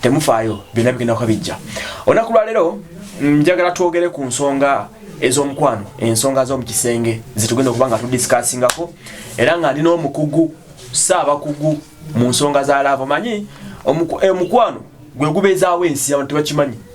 temufaayo byonna bigenda kuba bijja olunaku lwaleero mm, njagala twogere ku nsonga ez'omukwano ensonga z'omu kisenge zetugenda okuba nga tudisikaasingako era nga ndi n'omukugu saabakugu mu nsonga za laava omanyi eh, omukwano gwe gubeezaawo ensi abantu tebakimanyi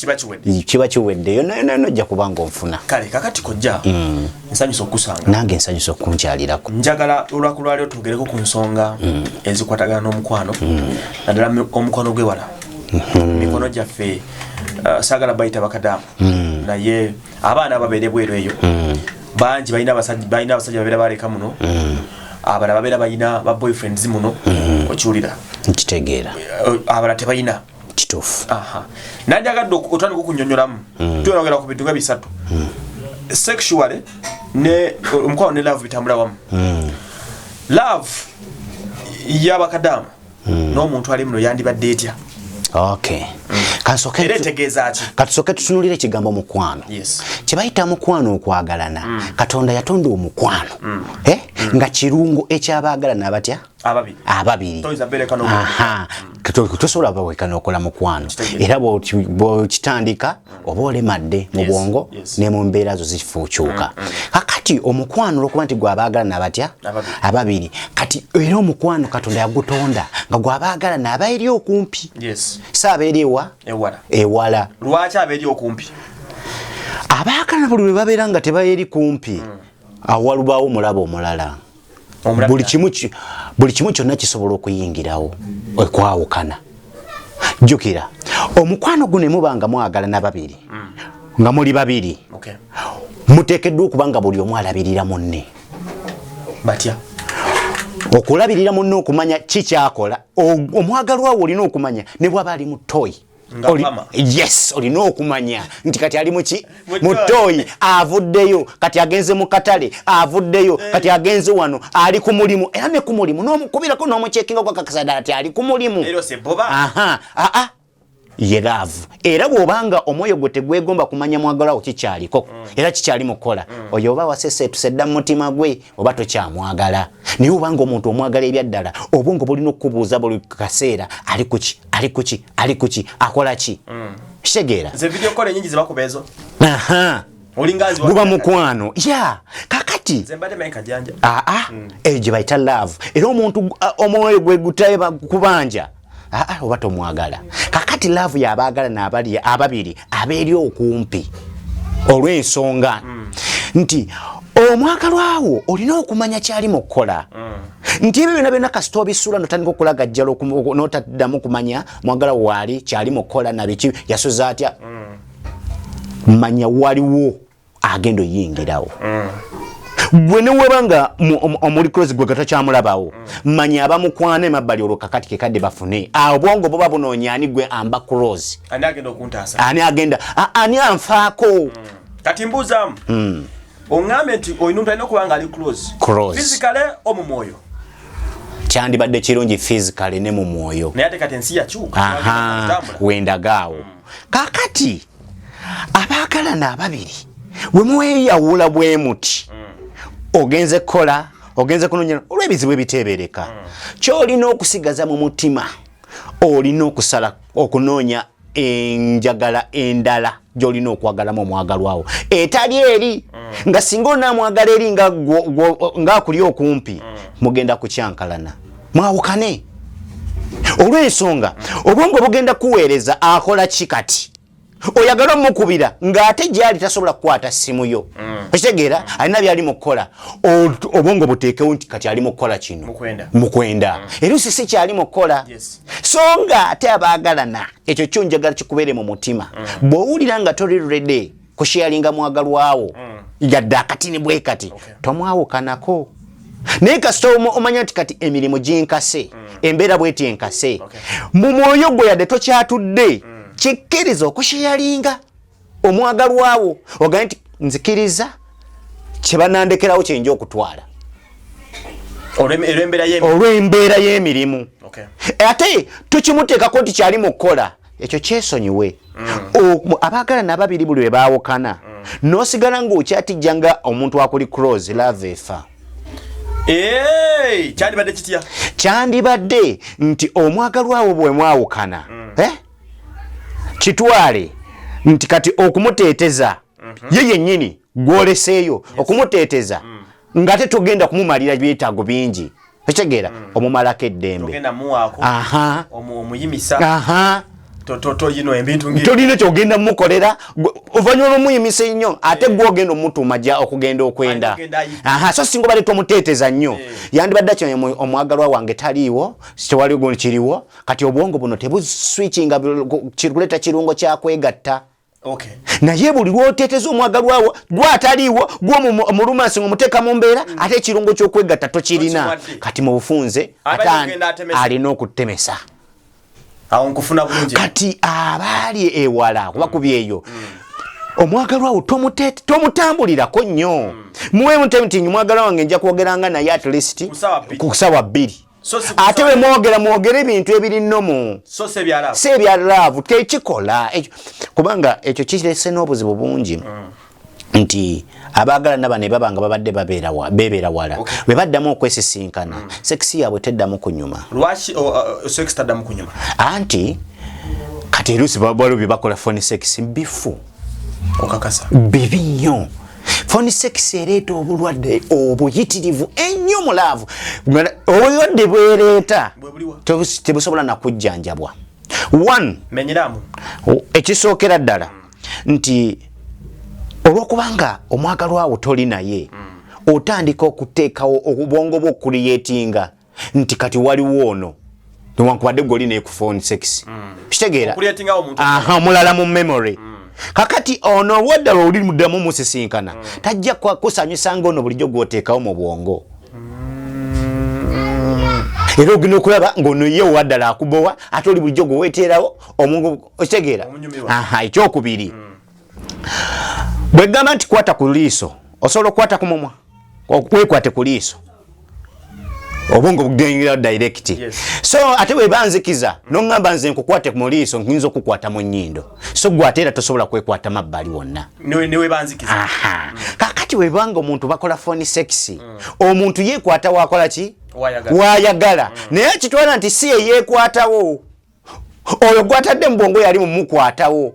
kiba kiwedde kiba kiwedde yonna yonna yonna ojja kuba ng'onfuna kale kakati kojja mm. nsanyusa okukusanga nange nsanyusa okunkyalirako njagala olwaku lwaliro twogereko ku nsonga mm. ezikwatagana n'omukwano mm. naddala omukwano gw'ewala mm-hmm. mikono gyaffe uh, saagala bayita bakadamu naye abaana ababeere bweru eyo bangi balina abasajja babeera baleka muno abala babeera balina ba boyfriends muno okiwulira nkitegeera abala tebalina kitufu aha nandi agadde otandika okunyonyolamu mm. tuyogera ku bintu nga bisatu mm. sexually ne omukwano ne love bitambula wamu mm. love yabakadaama mm. n'omuntu ali muno yandibadde etya okay mm. katusooke tutunulire ekigambo mukwano yes. kyebayita mukwano okwagalana mm. katonda yatonda omukwano mm. eh? mm. nga kirungo ekyabaagalana batya ababiri tosobola baweka nokola mukwano era bwokitandika oba olemadde mu bwongo ne mu mbeera zo zifuukyuka mm, mm. kakati omukwano olwokuba nti gwabaagala nabatya ababiri kati era omukwano katonda yagutonda nga gwabaagala naaba eri okumpi si abeeri ewa ewala lwaki abeeri okumpi abaagala buli lwe babeera nga tebaeri kumpi mm. awalubaawo omulaba omulala buli kimu buli kimu kyonna kisobola okuyingirawo okwawukana jjukira omukwano guno emuba nga mwagala na babiri mm. nga muli babiri muteekeddwa okuba nga buli omu alabirira munne batya okulabirira munne okumanya kikyakola omwagalwawo olina okumanya ne bwaba ali mutoyi yes olina okumanya nti kati ali muki mutoyi avuddeyo kati agenze mu katale avuddeyo eh. kati agenze wano ali ku mulimu era ne ku mulimu nomukubirako nomucekinga gwakakasada ati ali ku mulimu ye laavu era bw'obanga omwoyo gwe tegwegomba kumanya mwagalawo kikyaliko mm. era kikyali mukukola mm. oyo oba waseseetuse dda mumutima gwe oba tokyamwagala naye obanga omuntu omwagala ebyaddala obwongo bulina okukubuuza buli kaseera ali kuki ali kuki ali kuki akola ki mm. kitegeera guba mukwano ya kakati ah, ah. mm. eyo gye bayita love era omuntu ah, omwoyo gwe gutaye kubanja oba tomwagala kakati love yabaagala nabali ababiri abeeri okumpi olw'ensonga mm. nti omwagalwawo olina okumanya kyali mu kukola mm. nti ebyo byona byona kasita obisula notandika okulagajjala notaddamu kumanya mwagala waali kyali mukola nabiki yasuza atya mm. manya waliwo agenda oyingirawo mm. gwe neweba nga omuli close gwe gatakyamulabawo mm. manya abamukwana emabbali olwo kakati kekadde bafune awo bwongo buba bunoonya ani gwe amba close ani agenda ani anfaako kati mbuuzamu ongambye nti oyo omuntu alina okuba nga ali close physically omu mwoyo kyandibadde kirungi physically ne mu mwoyo naye ate kati ensi yakyuka wendagaawo mm. kakati abaagalana ababiri bwe mweyawula bwe muti mm. ogenze kukola ogenze kunonya olw'ebizibu ebiteebereka mm. kyolina okusigaza mu mutima olina okusala okunoonya enjagala endala gyolina okwagalamu omwagalwawo etali eri mm. nga singa onamwagala eri ngaakuli okumpi mm. mugenda kukyankalana mwawukane olwensonga mm. obwongo bugenda kuweereza akola ki kati oyagala omukubira ng'ate gyali tasobola kukwata ssimu yo mm. okitegeera mm. alina byali mu kukola obwongo buteekewo nti kati ali mu kukola kino mukwenda mm. era osisi kyali mu kukola so nga ate abaagalana ekyo kyo njagala kikubeere mu mutima mm. bw'owulira nga tori rede kusheyalinga mwagalwawo mm. yadde akatini bwe kati tomwawukanako naye kasita omanya nti kati emirimu ginkase mm. embeera bweti enkase mu mwoyo gwe yadde tokyatudde kikkiriza okusheyalinga omwagalwa wo ogambe nti nzikiriza kyebanandekerawo kyenja okutwala olw'embeera y'emirimu ate tukimuteekako nti kyali mu kukola ekyo kyesonyiwe mm. abaagala nababiri buli webaawukana mm. nosigala ngaokyatijja nga omuntu akuli cross lava efa kyandibadde kitya kyandibadde nti omwagalwawo bwemwawukana mm. eh? kitwale nti kati okumuteeteza mhm. ye yennyini gwoleseeyo okumuteeteza mm. nga te togenda kumumalira byetaago bingi ekitegeera mm. omumalako eddembe tolina kyogenda mukolera ovanyuma lwomuyimisa ennyo ate eh. gwogenda omutuma ja okugenda okwenda so singa obadde tomuteeteza nnyo eh. yandibadde kino omwagalwa wange taliiwo tewali gundi kiriwo kati obwongo buno tebuswitchinga kirkuleta kirungo kyakwegatta Okay. naye buli lwoteteza omwagalwawo gwataliiwo gwomulumansi ngomuteka mu mbeera mm. ate ekirungo kyokwegatta tokirina kati mu bufunze ate alina okutemesa kati abaali ewala kuba mm. kubyeyo mm. omwagalwawo tomutambulirako nnyo mm. muwe mutemutinyi mwagala wange nja kwogeranga naye at least ku sawa bbiri ate bwe mwogera mwogere ebintu ebiri nomu si ebya laavu tekikola kubanga ekyo kirese n'obuzibu bungi mm. nti abaagala naba ne baba nga babadde bebeera wala bwe baddamu okwesisinkana mm. sekisi yaabwe teddamu kunyuma anti kati erusi babalu bye bakola foni sekisi bifu bibi nnyo foni sekisi ereeta obulwadde obuyitirivu ennyo mu laavu obulwadde bwereeta tebusobola nakujjanjabwa one ekisookera ddala nti olwokubanga omwagalwawo toli naye mm. otandika okuteekawo obubongo bwokuliyetinga nti kati waliwo ono newankubadde gwoli naye ku phone sex mm. kitegeera omulala mu memory mm. kakati ono obwadda lwe oli muddamu musisinkana mm. tajja kusanyusa nga ono bulijjo gwoteekawo mu bwongo era ogenda okulaba ngaono ye owaddala akubowa ate oli bulijjo gwe weteerawo omungu okitegeera ekyokubiri bwegamba nti kwata ku liiso osobola okukwata ku mumwa wekwate ku liiso obwongo bugengera direct yes. so ate webanzikiza nongamba nze nkukwate mu liiso nyinza okukwata mu nyindo so gwate era tosobola kwekwata mabbali wonna kakati webanga omuntu bakola foni sexy mm. omuntu yekwata wakola ki wayagala mm. naye akitwala nti si eyekwatawo oyo gwatadde mu bwongo yali mumukwatawo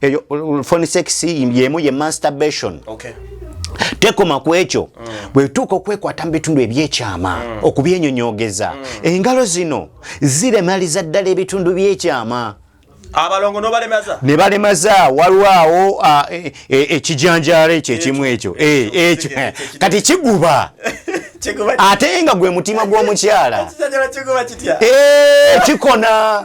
eyo phone sex yemu ye masturbation okay tekoma ku ekyo mm. bwetuuka okwekwata mu bitundu ebyekyama mm. okubyenyonyogeza mm. engalo zino ziremaliza ddala ebitundu byekyama abalongo nobalemaza ne balemaza waliwo awo e, e, ekijanjaalo ekyo ekimu ekyo e, ekyo kati kiguba ate nga gwe mutima gw'omukyala kikona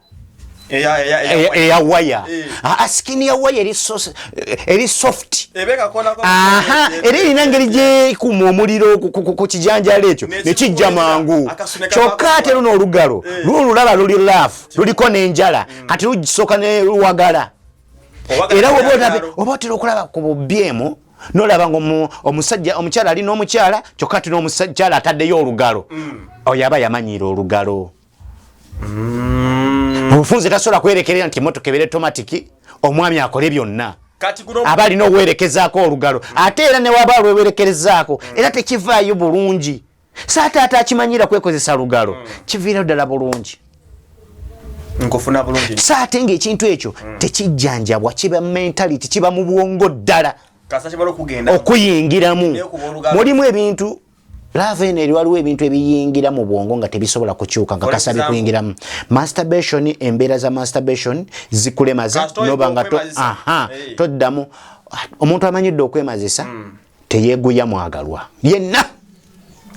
eya waya eh. ah, ah, sikini ya waya eri eh, soft era erina ngeri gyekuma omuliro ku kijanjalo ekyo nekijja mangu kyokka ate luno olugalo eh. luno lulaba luli laf luliko nenjala mm. kati lugisooka neluwagala era oba otera okulaba ku bubyemu nolaba nga omusajja omukyala ali n'omukyala kyokka ati n'omukyala ataddeyo olugalo mm. oyo aba yamanyiira olugalo mm. omufunze tasobola kwerekerera nti emotoka ebeera tomatiki omwami akole byonna aba alina owerekezaako olugalo ate era newaba alwewerekerezaako mm. era tekivaayo bulungi saataata akimanyira kwekozesa lugalo mm. kiviira ddala bulungi nkufuna bulungi so ate ngaekintu ekyo mm. tekijjanjabwa kiba mentality kiba mu bwongo ddala okuyingiramu mulimu ebintu laava eno eri waliwo ebintu ebiyingira mu bwongo nga tebisobola kukyuka nga kasabi kuyingiramu masturbation embeera za masturbation zikulemaza noba nga toddamu omuntu amanyidde okwemazisa hmm. teyeguya mwagalwa yenna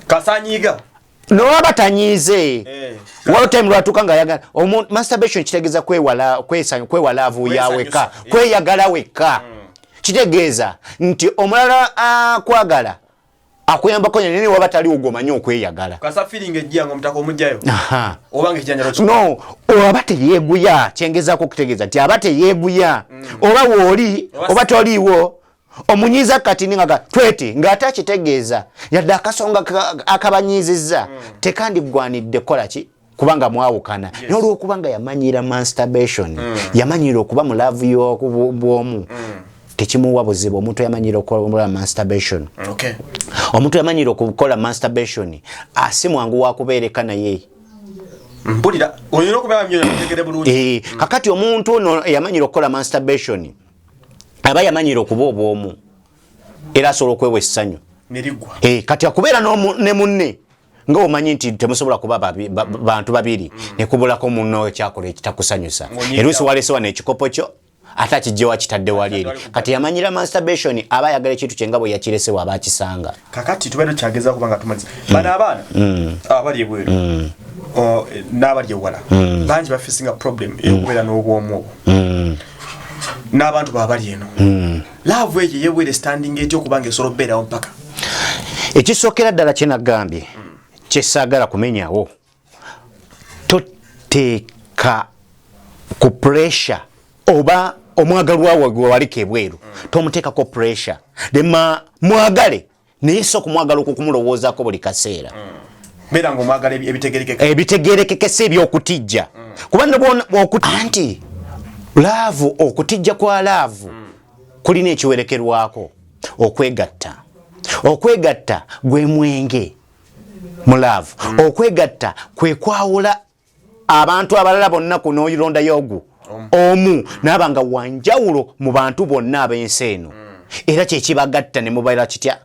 kasanyiga nowaba tanyize eh, waltime lwatuka nga yagala masturbation kitegeza kwewala kwesanya kwewala avuya weka kweyagala weka hmm. kitegeeza nti omulala akwagala ah, akuyambako nyanya naye waba taliwo gwomanyi okweyagala no oba teyeguya kyengezako okutegeeza nti aba teyeguya mm. oba wooli oba toliiwo omunyiiza kati ningaga tweti ng'ate akitegeeza yadde akasonga akabanyiizizza mm. tekandiggwanidde kukola ki kubanga mwawukana yes. naye olwokuba nga yamanyira masturbation mm. yamanyira okuba mu laavu y'obwomu mm. tekimuwa buzibu omuntu yamanyira okukola masturbation okay. omuntu yamanyira okukola masturbation asi mwangu wakubeereka naye mpulira olina okubeera nyo nategere bulungi eh, kakati omuntu ono yamanyira okukola masturbation aba yamanyira okuba obwomu era asobola okwewa essanyu e, kati akubeera ne munne nga omanyi nti temusobola kuba babi, ba, bantu babiri mm. nekubulako muno ekyakola ekitakusanyusa erusi walese wano ekikopo kyo ate akijje wakitadde wali eri kati yamanyira masturbation aba ayagala ekintu kyenga bwe yakiresewo aba akisanga kakati tubeera tukyageza kuba nga tumaliza mm. bano abaana mm. abali ebweru mm. n'abali ewala mm. bangi bafisinga problem mm. eyokubeera n'obwomu obwo mm. n'abantu baabali eno mm. laavu eyo yewere standing etya okuba nga esobola okubeerawo mpaka ekisookera ddala kye nagambye hmm. kyesaagala kumenyawo toteeka ku pressure oba omwagalwawo gwewaliko ebweru hmm. tomuteekako pressure dema mwagale naye si okumwagala okukumulowoozako buli kaseera ebitegerekekesa ebyokutijja kuba anti laavu okutijja kwa laavu kulina ekiwerekerwako okwegatta okwegatta gwe mwenge mu laavu okwegatta kwekwawula abantu abalala bonna ku noyirondayo ogwo omu naaba nga wanjawulo mu bantu bonna ab'ensi eno era kyekibagatta ne mubaira kitya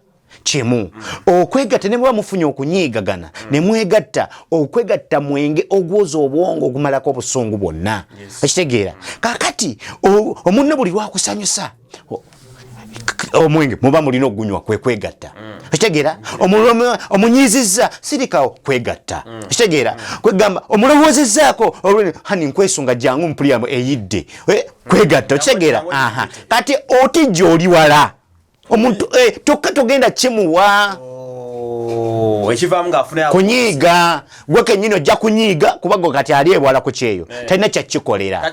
kimu okwegatta ne muba mufunye okunyiigagana ne mwegatta okwegatta mwenge ogwoza obwongo ogumalako obusungu bwonna okitegeera kakati omunne buli lwakusanyusa omwenge muba mulina okugunywa kwekwegatta mm. okitegeera omunyiizizza sirikawo kwegatta mm. okitegeera mm. kwegamba omulowoozezzaako hani nkwesunga jangu mupuliramu eyidde eh, kwegatta okitegeera aha kati oti gyoli wala omuntu eh, tokka togenda kimuwa oh, kunyiiga gwe kenyini ojja kunyiiga kubago kati ali ebwala ku kyeyo eh. talina kyakikolera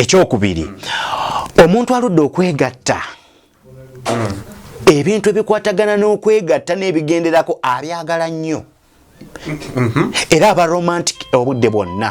ekyokubiri omuntu aludde okwegatta mm. ebintu ebikwatagana n'okwegatta n'ebigenderako abyagala nnyo mm-hmm. era aba romantic obudde bwonna